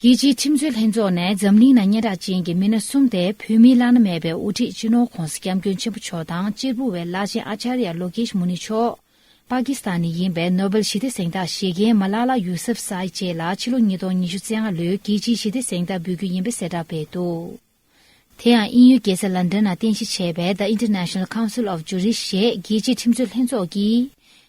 རྒྱལ་སྤྱིའི་ཁྲིམས་རྩོད་ལྷན་ཚོགས་ནས་འཛམ་གླིང་ན་སྙན་གྲགས་ཅན་གྱི་མི་སྣ་གསུམ་སྟེ་བོད་མིའི་བླ་ན་མེད་པའི་དབུ་ཁྲིད་སྤྱི་ནོར ྋགོང་ས ྋསྐྱབས་མགོན་ཆེན་པོ་མཆོག་དང་གཅེར་བུ་བའི་བླ་ཆེན་ཨཅཱརྱ་ལོགེཤ་མུ་ནི་མཆོག། པཱ་ཀི་སི་ཐན་ནས་ཡིན་པའི་ནོ་བེལ་ཞི་བདེ་གཟེངས་རྟགས་བཞེས་མཁན་མ་ལ་ལ་ཡུ་སེབ་སཱི་བཅས་ལ་ཕྱི་ལོ་ཉིས་སྟོང་ཉི་ཤུ་ཚེས་ལྔ་ལོའི་རྒྱལ་སྤྱིའི་ཞི་བདེ་གཟེངས་རྟགས་འབུལ་རྒྱུ་ཡིན་པའི་གསལ་བསྒྲགས་སྤེལ་འདུག། དེ་ཡང་དབྱིན་ཡུལ་རྒྱལ་ས་ལན་དོན་ན་རྟེན་གཞི་བྱས་པའི The International Council of Jurists ཞེས་རྒྱལ་སྤྱིའི་ཁྲིམས་རྩོད་ལྷན་ཚོགས་ཀྱི་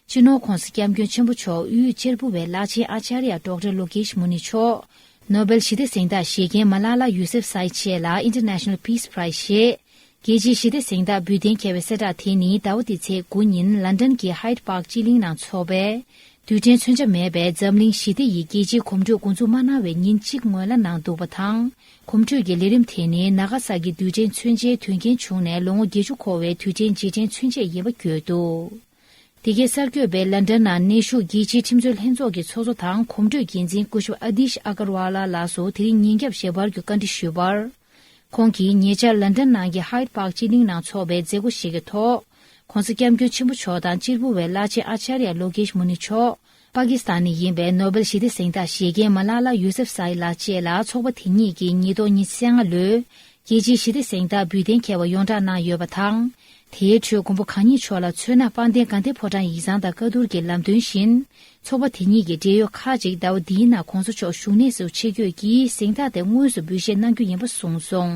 སྤྱི་ནོར་ཁོང་སི་སྐྱབས་མགོན་ཆེན་པོ་མཆོག་དབུས་གཅེར་བུ་བའི་བླ་ཆེན Acharya Doctor Lokesh Muni མཆོག Nobel ཞི་བདེ་གཟེངས་རྟགས་བཞེས་མཁན Malala Yousefzai བཅས་ལ International Peace Prize ཞེས་རྒྱལ་སྤྱིའི་ཞི་བདེ་གཟེངས་རྟགས་འབུལ་གཏན་འཁེལ་བའི་གསལ་བསྒྲགས་དེ་ནི་ཟླ་བ་འདིའི་ཚེས་དགུ་ཉིན་ལན་དོན་གྱི Hyde Park སྤྱི་གླིང་ནང་འཚོགས་པའི་དུས་དྲན་མཚོན་ཆ་མེད་པའི་འཛམ་གླིང་ཞི་བདེ་ཡི་རྒྱལ་སྤྱིའི་གོམ་བགྲོད་འགོ་འཛུགས་མ་གནང་བའི་ཉིན་གཅིག་སྔོན་ལ་གནང་འདུག་པ་དང་གོམ་བགྲོད་ཀྱི་ལས་རིམ་དེ་ནི་ན་ག་ས་ཀྱི་དུས་ཆེན་མཚོན་ཆའི་དོན་རྐྱེན་བྱུང་ནས་ལོ་ངོ་བརྒྱད་ཅུ་འཁོར་བའི་དུས་ཆེན་རྗེས་དྲན་མཚོན་ཆས་ཡིན་པ་བརྗོད་འདུགདེ་གའི་གསར་འགོད་པས་ལན་ཀྲ་ན་གནས་བཞུགས་རྒྱལ་སྤྱིའི་ཁྲིམས་རྩོད་ལྷན་ཚོགས་ཀྱི་ཚོགས་གཙོ་དང་གོམ་བགྲོད་འགན་འཛིན་སྐུ་ཞབས་ཨ་དིཤ་ཨ་ཀར་ཝཱ་ལ་ལགས་སུ་དེ་རིང་ཉིན་རྒྱབ་ཞལ་པར་གྱི་བཀའ་འདྲི་ཞུས་པར། ཁོང་གིས་ཉེ་ཆར་ལན་ཀྲ་ནང་གི Hyde Park སྤྱི་གླིང་ནང་འཚོགས་པའི་མཛད་སྒོ་ཞིག་གི་ཐོག ྋགོང་ས་སྐྱབས་མགོན་ཆེན་པོ་མཆོག་དང་སྤྱིར་བུ་བའི་བླ་ཆེན་ཨ་ཅཱརྱ་ལོ་ཀེཤ་མུ་ནི་མཆོག་པ་ཀི་སི་ཐན་ནས་ཡིན་པའི་ནོ་བེལ་ཞི་བདེ་གཟེངས་རྟགས་བཞེས་མཁན་མ་ལ་ལ་ཡུ་སེབ་སཱ་ཨི་ལགས་བཅས་ལ་ཚོགས་པ་དེ་གཉིས་ཀྱིས་ཉིས་སྟོང་ཉི་ཤེ་ལྔ་ལོའི་རྒྱལ་སྤྱིའི་ཞི་བདེ་གཟེངས་རྟགས་འབུལ་གཏན་འཁེལ་བ་ཡོངས་བསྒྲགས་གནང་ཡོད་པ་དང། དེའི་ཁྲོད་མགོན་པོ་གང་ཉིད་མཆོག་ལ་མཚོན་ན་སྤང་ལྡན་དགའ་ལྡན་ཕོ་བྲང་ཡིག་ཚང་དང་བཀའ་བསྡུར་གྱི་ལམ་སྟོན་བཞིན་ཚོགས་པ་དེ་གཉིས་ཀྱི་འབྲེལ་ཡོད་ཁག་ཅིག་ཟླ་བ་འདིའི་ནང་གོང་ས་མཆོག་བཞུགས་གནས་སུ་ཆེད་བསྐྱོད་ཀྱིས་གཟེངས་རྟགས་དེ་དངོས་སུ་འབུལ་བཞེས་གནང་རྒྱུ་ཡིན་པ་གསུངས་སོང།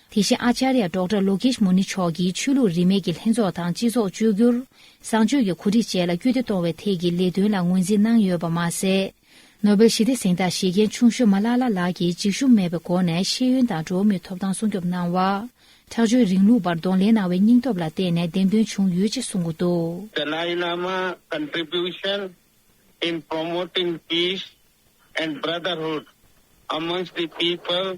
དེ་བཞིན་ཨཅཱརྱ་སྒྲོག་གྲྭ་ལོ་ཀེཤ་མུ་ནི་མཆོག་གིས་ཆོས་ལུགས་རིས་མེད་ཀྱི་ལྷན་ཚོགས་དང་སྤྱི་ཚོགས་བཅོས་བསྒྱུར། བཟང་སྤྱོད་ཀྱི་གོ་སྒྲིག་བཅས་ལ་སྐུལ་འདེད་གཏོང་བའི་ཐད་ཀྱི་ལས་དོན་ལ་ངོས་འཛིན་གནང་ཡོད་པ་མ་ཟད། ནོ་སྦེལ་ཞི་བདེ་གཟེངས་རྟགས་བཞེས་མཁན་ཆུང་ཤོ་མ་ལ་ལ་ལགས་ཀྱིས་འཇིགས་ཞུམ་མེད་པའི་སྒོ་ནས་ཤེས་ཡོན་དང་འགྲོ་བ་མིའི་ཐོབ་ཐང་སྲུང་སྐྱོབ་གནང་བ། ཁྲག་སྦྱོར་རིང་ལུགས་པར་གདོང་ལེན་གནང་བའི་སྙིང་སྟོབས་ལ་བརྟེན་ནས་བདེན་དོན་བྱུང་ཡོད་ཅེས་གསུངས་འདུག། Dalai Lama contribution in promoting peace and brotherhood amongst the people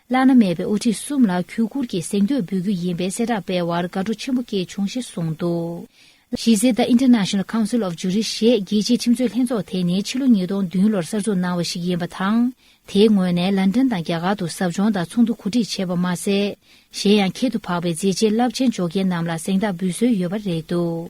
བླ་ན་མེད་པའི་དབུ་ཁྲིད་གསུམ་ལ་གུས་བཀུར་གྱིས་གཟེངས་བསྟོད་འབུལ་རྒྱུ་ཡིན་པའི་གསལ་བསྒྲགས་སྤེལ་བར་དགའ་སྤྲོ་ཆེན་པོ་སྐྱེས་བྱུང་ཞེས་གསུངས་འདུག་གཞིས་རྩེ The International Council of Jurists ཞེས་རྒྱལ་སྤྱིའི་ཁྲིམས་རྩོད་ལྷན་ཚོགས་དེ་ནི་ཕྱི་ལོ་ཉིས་སྟོང་བདུན་ལོར་གསར་འཛུགས་གནང་བ་ཞིག་ཡིན་པ་དང། དེའི་ངོས་ནས་ལན་ཀྲན་དང་རྒྱ་གར་དུ་ཟབ་སྦྱོང་དང་ཚོགས་འདུ་གོ་སྒྲིག་བྱས་པ་མ་ཟད། གཞན་ཡང་ཁྱད་དུ་འཕགས་པའི་མཛད་རྗེས་རླབས་ཆེན་འཇོག་མཁན་རྣམས་ལ་གཟེངས་རྟགས་འབུལ་སྲོལ་ཡོད་པ་རེད་འདུག།